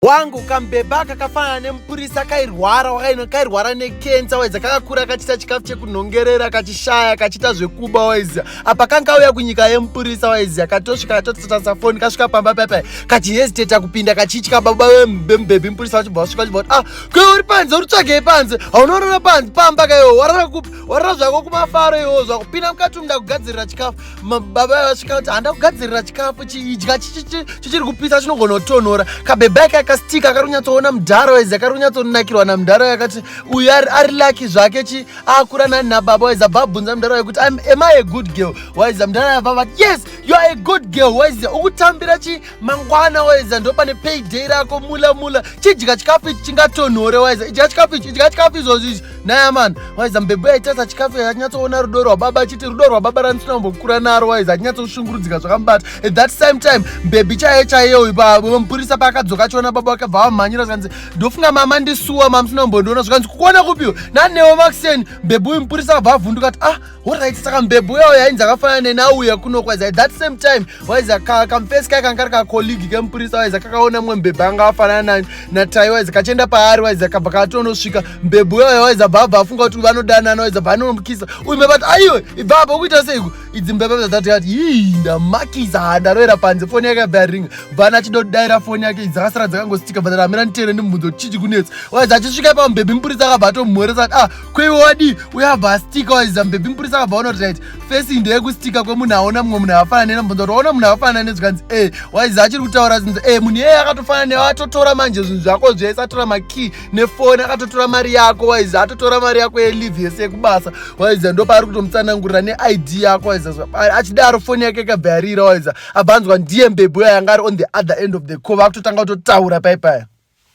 wangu kambhebha kakafanana nemupurisa kairwara wakaino kairwara nekensa waiza kakakura kachita chikafu chekunhongerera kachishaya kachita zvekuba waiziya apa kanga kauya kunyika yemupurisa waiziya katosvika katotatasa foni kasvika pamba paipai kachihesiteta kupinda kachitya baba vemubhebhi mupurisa vachibva vasvika vachibva kuti ah kwe uri panze uri tsvagei panze haunorara panze pamba kaiwo warara kupi warara zvako kumafaro iwo zvakupinda mukati umda kugadzirira chikafu mababa vasvika kuti handa kugadzirira chikafu chiidya chichiri kupisa chinogona kutonhora kabhebha yake akastika akari kunyatsoona mudhara waizi akari kunyatsonakirwa namudhara yakati uyu ari laki zvake chi akura nani nababa waizi abva abvunza mudhara wekuti am i a good girl waizi mudhara yabva vati yes you are a good girl waizi ukutambira chi mangwana waiza ndopane payday rako mula mula chidya chikafu ichi chingatonhore waiza idya chikafu ichi idya chikafu izvozvo izvi naya mani waiza mbebo yaitasa chikafu yanyatsoona rudo rwababa achiti rudo rwababa randisina kumbokura naro waiza achinyatsoshungurudzika zvakamubata at that same time mbebi chaiye chaiye uyu pamupurisa paakadzoka achiona baba wake bva vamhanyira zvikanzi ndofunga mama ndisuwa mamusina kumbondiona zvikanzi kukuona kupiwo nanewo makuseni mbebi uyu mupurisa akabva avhunduka kuti ah Alright, saka mbebhu uya uya ainzi akafanana nenauya kuno kwazi that same time waizi kamfesi kaya kanga kari kacolleague kemupurisa waizi kakaona mumwe mbebhu anga afanana natai waizi kachienda paari waizi akabva katonosvika mbebhu uya uya waizi abva abva afunga kuti vanodanana waizi abva anomukisa uyu mbebhu ati aiwe ibva apa ukuita seiku idzi mbebhu dzatati ati ii ndamakisa handaroera panze foni yake yabva yaringa bvana achida kudaira foni yake idzi akasara dzakangositika bva amira nditere ndimubvunzo kuti chichi kunetsa waizi achisvika pamubhebhi mupurisa akabva atomhoresa ati ah kweiwe wadii uyabva astika waiziva mbebhi mupurisa akabva ona kuti right fesi ndeye kustika kwemunhu aona mumwe munhu akafanana nena mbonza kuti waona munhu akafanana nezvikanzi e eh, waiziva achiri kutaura zinzi e eh, munhu iyeye akatofanana newe atotora manje zvinhu zvako zvese atora makey nefoni akatotora mari yako waiziva atotora mari yako yelive yese yekubasa waiziva ndo paari kutomutsanangurira neid yako waiziva achidaro foni yake ikabva yarira waiziva abva anzwa ndiye mbebhi uya yanga ari on the other end of the call vakutotanga kutotaura paipaya